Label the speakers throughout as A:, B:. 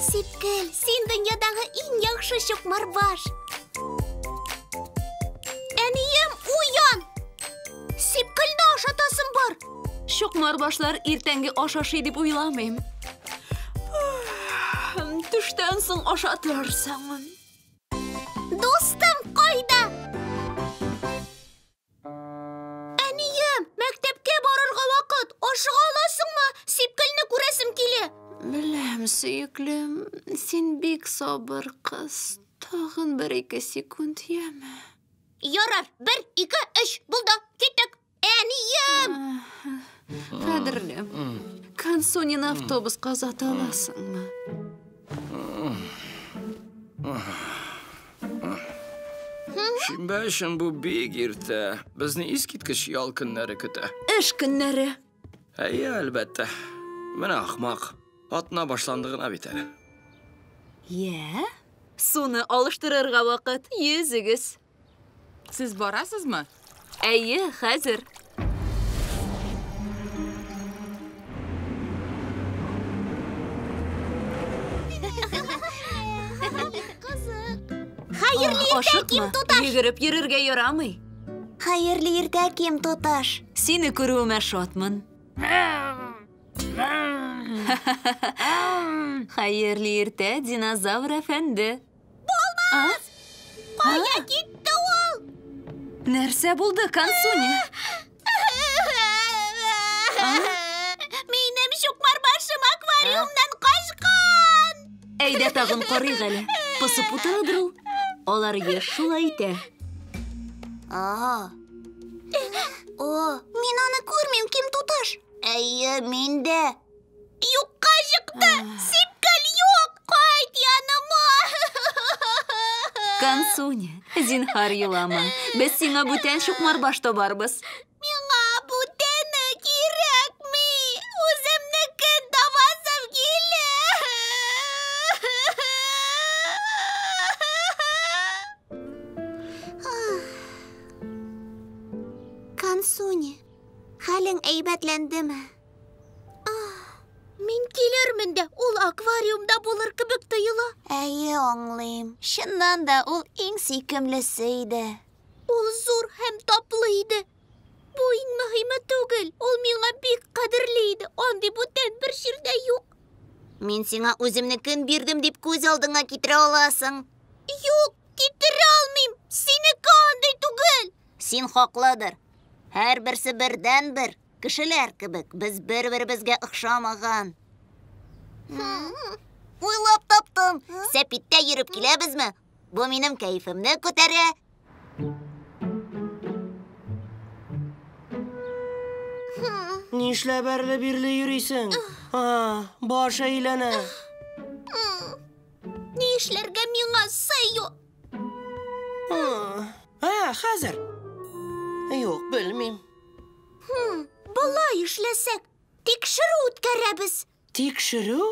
A: Сипкел, син дөньядагы иң яхшы чукмарбаш. Әнием, уян! Сипкелне ашатасым бар. Чукмарбашлар иртәнге аш ашый дип уйламыйм. Төштән соң ашатырсың. Әнием, мәктәпкә барырга вакыт. Ашыга аласыңмы? Сипкелне күрәсем килә. Беләм, сөеклем, син бик сабыр кыз. Тагын бер-ике секунд, яме. Ярар, бер, ике, өч, булды, киттек. Әнием! Кадерлем, Кансунин автобуска озата аласыңмы? Шимбә өчен бу бик иртә. Безне искиткеч ял көннәре көтә. Эш көннәре. Әйе, әлбәттә. Менә ахмак. Атна башланды гына бит әле. Йә, суны алыштырырга вакыт. Йөзегез. Сез барасызмы? Әйе, хәзер. Хәерле иртә, ким туташ! Йөгереп йөрергә ярамый. Хәерле иртә, ким туташ! Сине күрүемә шатмын. Хәерле иртә, динозавр әфәнде. Булмас! Кая китте ул? Нәрсә булды, Кансуни? Минем чукмар башым аквариумнан качкан! Әйдә тагын карыйк әле. Посып утырадыр ул. Алар еш шулай итә. О, мин аны күрмим, ким туташ. Әйе, мин дә. Юкка чыкты! Сипкел юк! Кайт яныма! Кансуня, зинхар елама. Без сиңа бүтән чукмар баш табарбыз. Миңа бүтәне кирәкми. Үземнеке табасым килә. Кансуня, хәлең әйбәтләндеме? Мин килермен дә, ул аквариумда булыр кебек тоела. Әйе, аңлыйм. Чыннан да ул иң сөйкемлесе иде. Ул зур һәм таплы иде. Бу иң мөһиме түгел. Ул миңа бик кадерле иде. Андый бүтән бер җирдә юк. Мин сиңа үземне көн бирдем дип күз алдыңа китерә аласың. Юк, китерә алмыйм. Синеке андый түгел. Син хаклыдыр. Һәрберсе бердәнбер. Кешеләр кебек, без бер-беребезгә охшамаган. Уйлап таптым. Сәпиттә йөреп киләбезме? Бу минем кәефемне күтәрә. Нишләп әрле-бирле йөрисең? А, баш әйләнә. Ни эшләргә миңа, Сэйо? Ha, hozir. Yo'q, bilmayman. Hmm, Былай эшләсәк, тикшерү үткәрәбез. Тикшерү?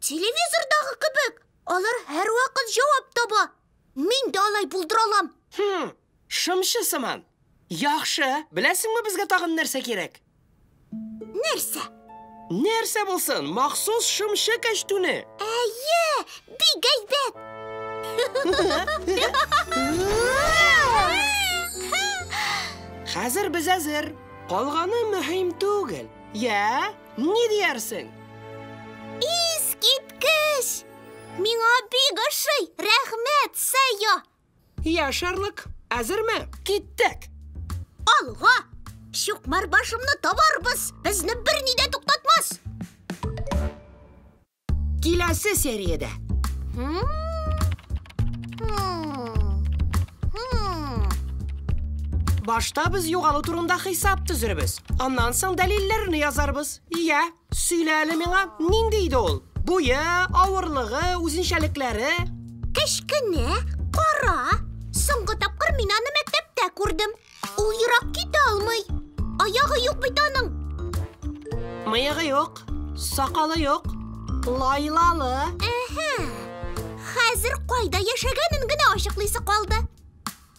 A: Телевизордагы кебек. Алар һәрвакыт җавап таба. Мин дә алай булдыра алам. Хм, шымчы сыман. Яхшы, беләсеңме безгә тагын нәрсә кирәк? Нәрсә? Нәрсә булсын, махсус шымчы кәчтүне. Әйе, бик әйбәт. Хәзер без әзер. Калганы мөһим түгел. Я, ни диярсең? Искиткеч! Миңа бик ошый. Рәхмәт, Сэйо. Я, Шерлок, әзерме? Киттек! Алга! Чукмар башымны табарбыз! Безне бер ни дә туктатмас! Киләсе сериядә! Башта без югалу турында хисап төзербез. Аннан соң дәлилләрне язарбыз. Я! Сөйлә әле миңа, нинди иде ул? Буе, авырлыгы, үзенчәлекләре? Кечкенә, кара. Соңгы тапкыр мин аны мәктәптә күрдем. Ул ерак китә алмый. Аягы юк бит аның. Мыегы юк, сакалы юк, лайлалы. Әһә. Хәзер кайда яшәгәнен генә ачыклыйсы калды.